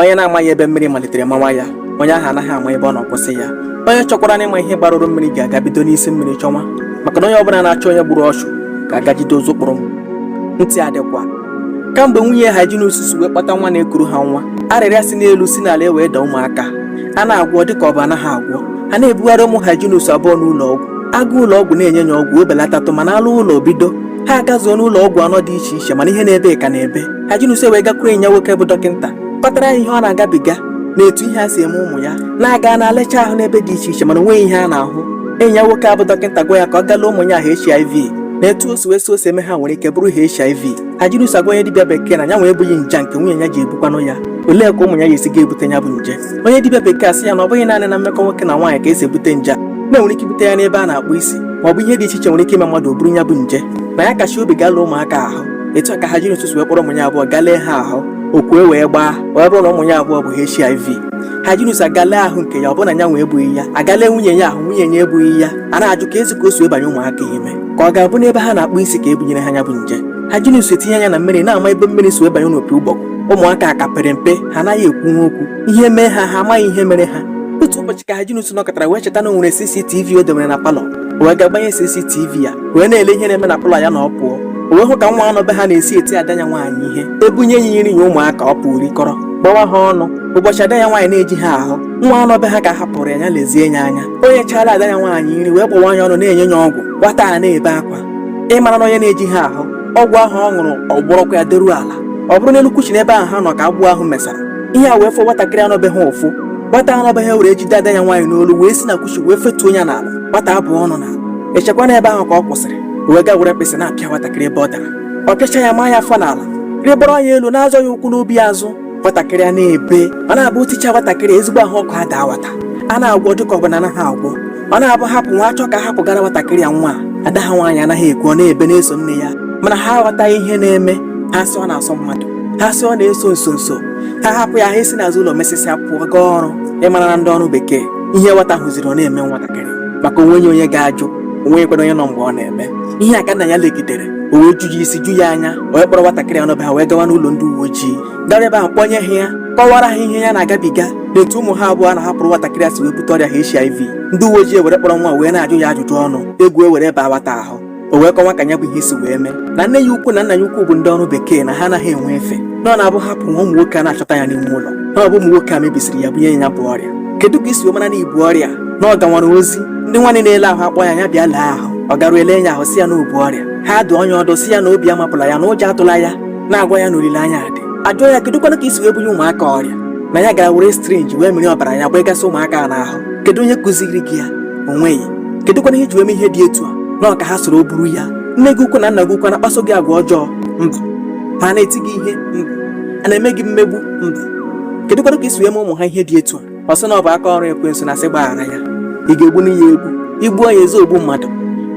onye na-amaghị ebe mmiri malitere mawa ya onye ahụ anaghị ama ebe ọ na-akwụsị ya onye chọkwaranụ ịma ihe gbarụrụ mmiri ga-aga bido n'isi mmiri chọnwa maka na onye ọbụla na-achọ onye gburu ọchụ ga-aga jide ụzụ kpụrụ mma ntị adịkwa kamgbe nwunye Hyginus si wee kpọta nwa na-ekuru ha nwa arịrịa si n'elu si n'ala e wee daa ụmụaka a na-agwọ dịka ọ bụ anaghị agwọ a na-ebugharị ụmụ Hyginus abụọ n'ụlọ ọgwụ a gaa ụlọ ọgwụ na-enye ya ọgwụ o belatatụ mana a laa ụlọ o bido ha agazuo n'ụlọ ọgwụ anọ dị iche iche mana ihe na-ebe ka na-ebe Hyginus wee gakwuru enyi ya nwoke bụ dọkịta kpatara ya ihe ọ na-agabiga na etu ihe a si eme ụmụ ya na-aga na alecha ahụ n'ebe dị iche iche mana onweghị ihe a na-ahụ enyi ya nwoke a bụ dọkịta gwa ya ka ọ galee ụmụ ya ahụ HIV na etu o si eme ha nwere ike bụrụ HIV Hyginus agwa onye dibịa bekee na ya nwa ebughị nje nke nwunye ya ji ebukwanụ ya olee ka ụmụ ya ga-esi ga-ebute ya bụ nje onye dibịa bekee asị ya na ọ bụghị naanị na mmekọ nwoke na nwaanyị ka esi ebute nje a na e nwere ike ibute ya n'ebe a na-akpụ isi ma ọ bụ ihe dị iche iche nwere ike ime mmadụ o buru ya bụ nje na ya kacha obi galee ụmụaka ahụ etu a ka Hyginus si wee kpọrọ ụmụ ya abụọ galee ha ahụ ọkụ e wee gbaa wee bụrụ na ụmụ ya abụọ bu HIV Hyginus agalee ahụ nke ya ọbụna ya nwe ebughị ya agalee nwunye ya ahụ nwunye ya ebughị ya a na-ajụkwazi ka o si ebanye ụmụaka ime ka ọ ga-abụ n'ebe ha na-akpụ isi ka ebunyere ha ya bụ nje Hyginus etinye anya na mmiri na-ama ebe mmiri si ebanye n'opi ụgbọgụ ụmụaka a ka pere mpe ha anaghị ekwunwu okwu ihe mee ha ha amaghị ihe mere ha otu ụbọchị ka Hyginus nọkatara wee cheta na o nwere CCTV o debere na palọ wee gaa gbanye CCTV ya wee na-ele ihe na-eme na palọ ya na ọ pụọ o wee hụ ka nwa a nọ be ha na-esi eti ada ya nwaanyị ihe ebunye ya nri ya ụmụaka ọ pụrụ rikọrọ gbawa ha ọnụ ụbọchị ada ya nwaanyị na-ejighị ahụ nwa a nọ be ha ka a hapụrụ ya ya lezie ya anya o nyechaala ada ya nwaanyị nri wee gbawa ya ọnụ na-enye ya ọgwụ nwata a na-ebe akwa ị mara na onye na-ejighị ahụ ọgwụ ahụ ọ ṅụrụ ọ gbọrọkwa ya deruo ala ọ bụrụ n'elu couch n'ebe ahụ ha nọ ka agbọ ahụ mesara ihe a wee fụọ nwatakịrị a nọ be ha ụfụ nwata a nọ be ha ewere jide ada ya nwaanyị n'olu wee si na couch wee fetuo ya n'ala nwata akụọ ọnụ n'ala echekwana ebe ahụ ka ọ kwụsịrị wee gaa were mkpịsị na-apịa nwatakịrị ebe ọ dara ọ pịacha ya maa ya afọ n'ala rịgoro ya elu na-azọ ya ụkwụ n'obi azụ nwatakịrị a na-ebe ọ na-abụ o ticha nwatakịrị ezigbo ahụ ọkụ adaa nwata a na-agwọ dịka ọ bụ na anaghị agwọ ọ na-abụ ha pụwa a chọọ ka ha bugara nwatakịrị a nwa ada ha nwaanyị anaghị ekwe ọ na-ebe na-eso nne ya mana ha aghọtaghị ihe na-eme ha sị ọ na-asọ mmadụ ha sị ọ na-eso nso nso ha hapụ ya ha esi n'azụ ụlọ mesịsịa pụọ gaa ọrụ ị mara na ndị ọrụ bekee ihe nwata hụzịrị ọ na-eme nwatakịrị maka onweghị onye ga-ajụ onweghịkwanụ onye nọ mgbe ọ na-eme ihe a ka nna ya legidere o wee ju ya isi ju ya anya o wee kpọrọ nwatakịrị a nọ be ha wee gawa n'ụlọ ndị uwe ojii gara ebe ahụ kpọnye ha ya kọwara ha ihe ya na-agabiga na etu ụmụ ha abụọ a na-ahapụrụ nwatakịrị a si wee bute ọrịa HIV ndị uwe ojii were kpọrọ nwa wee na-ajụ ya ajụjụ ọnụ egwu ewere baa nwata ahụ o wee kọwa ka ya bụ ihe si wee mee na nne ya ukwu na nna ya ukwu bụ ndị ọrụ bekee na ha anaghị enwe efe na ọ na-abụ ha pụwa ụmụ nwoke a na-achọta ya n'ime ụlọ na ọ bụ ụmụ nwoke a mebisiri ya bunye ya ya bụ ọrịa kedu ka i si wee mara na i bu ọrịa na ọ gawara ozi ndị nwaanyị na-ele ahụ akpọ ya ya bịa lee ahụ ọ garuo ele ya ahụ sị ya na o bu ọrịa ha dụọ ya ọdụ sị ya na obi amapụla ya na ụjọ atụla ya na-agwa ya na olileanya dị ajụọ ya kedụkwana ka i si wee bunye ụmụaka ọrịa na ya gara were syringe wee mịrị ọbara ya gbagasị ụmụaka a n'ahụ kedu onye kụziri gị ya o nweghị kedụkwana ihe i ji wee mee ihe dị etu a na ọ ka ha soro buru ya nne gị ukwu na nna gị ukwu na-akpaso gị agwa ọjọọ mba ha na-eti gị ihe mba a na-eme gị mmegbu mba kedụkwana ka i si wee mee ụmụ ha ihe dị etu a ọ sị na ọ bụ aka ọrụ ekwensu na sị gbaghara ya ị ga-egbu ya egbu i gbuo ya ị zaa ogbu mmadụ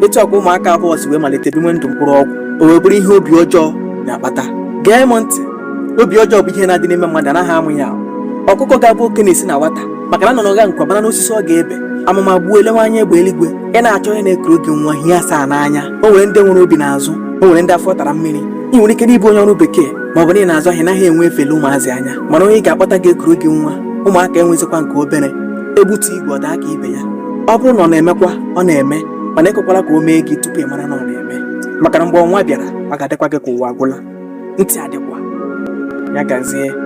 etu a ka ụmụaka abụọ si wee malite biwe ndụ mkpụrụ ọgwụ o wee bụrụ ihe obi ọjọọ na-akpata gee m ntị obi ọjọọ bụ ihe na-adị n'ime mmadụ anaghị amụ ya ọkụkọ ga-abụ oke na-esi na nwata maka na nnụnụ ọgankwọ mara n'osisi ọ ga-ebe amụma gbuo elewe anya egbe eluigwe ị na-achọ onye na-ekuru gị nwa hie asaa n'anya o nwere ndị nwere obi n'azụ o nwere ndị afọ tara mmiri i nwere ike na ị bụ onye ọrụ bekee ma ọ bụ na ị na-azụ ahịa ị naghị enwe efe ele ụmụazị anya mana onye ị ga-akpọta ga-ekuru gị nwa ụmụaka enwezikwa nke obere ebutu igwe ọ daa ka ibe ya ọ bụrụ na ọ na-emekwa ọ na-eme mana ekwekwala ka o mee gị tupu ị mara na ọ na-eme maka na mgbe ọnwa bịara ọ ga-adịkwa gị ka ụwa agwụla ntị adịkwa ya gazie